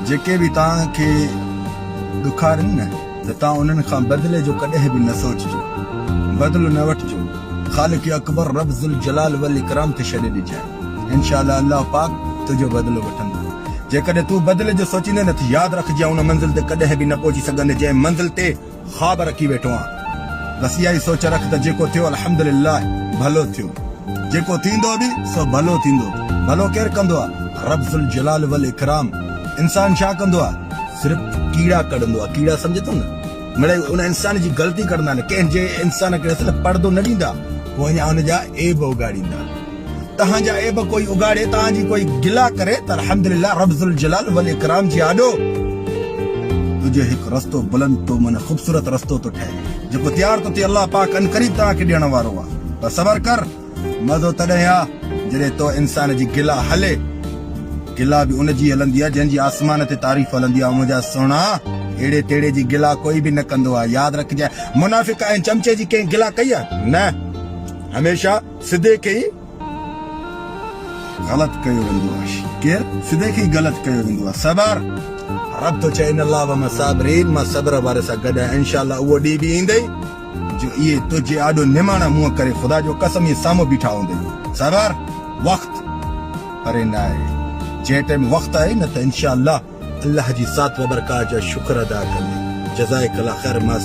جيڪي به توهان کي ڏکارين نه ته توهان انهن کان بدلي جو ڪڏهن به نه سوچجو، بدلو نه وٺجو، خالق اڪبر رب ذوالجلال والاڪرام تي ڇڏي ڏجانء، انشاء الله الله پاڪ تنهنجو بدلو وٺندو، جيڪڏهن تون بدلي جو سوچيندين ته ياد رک جيئن ان منزل تي ڪڏهن به نه پهچي سگهندين جنهن منزل تي خواب رکي ويٺو آهيان بس اها ئي سوچ رک ته جيڪو ٿيو الحمدلله ڀلو ٿيو جيڪو ٿيندو به سو ڀلو ٿيندو ڀلو ڪير ڪندو آهي رب ذوالجلال والاڪرام انسان ڇا ڪندو آهي صرف ڪيڙا ڪڍندو آهي ڪيڙا سمجهي ٿو نه مڙئي ان انسان جي غلطي ڪڍندا آهن ڪنهن جي انسان کي ڏسي ته پڙدو نه ڏيندا پوء اڃا ان جا عيب اگهاڙيندا. تهان جا عيب ڪوئي اگهاڙي، تهان جي ڪوئي گلا ڪري ته الحمد لله رب ذوالجلال والاڪرام جي آڏو تنهنجو هڪ رستو بلند ٿو معنيٰ خوبصورت رستو ٿو ٺهي جيڪو تيار ٿو ٿئي الله پاڪ عنقريب توهان کي ڏيڻ وارو آ پر صبر ڪر مزو تڏهن آ جڏهن تو انسان جي گلا هلي گلا به ان جي هلندي آ جنهن جي آسمان تي تعريف هلندي آ منهنجا سهڻا اهڙي تهڙي جي گلا ڪوئي به نه ڪندو آ ياد رکجانء منافق ۽ چمچي جي ڪنهن گلا ڪئي آ نه هميشه سدي کي ئي غلط ڪيو ويندو آهي ڪير سدي کي ئي غلط ڪيو ويندو آهي صبر رب ٿو چئي ان الله وما صابرين مان صبر واري سان گڏ آهيان انشاء الله اهو ڏينهن به ايندئي جو اهي تنهنجي آڏو نماڻا منهن ڪري خدا جو قسم اهي سامهون بيٺا هوندئي صبر وقت پري نه آهي جنهن ٽائيم وقت آهي نه ته انشاء الله الله جي ساٿ وبرڪات جا شڪر ادا ڪندي جزائڪ الله خير ماس.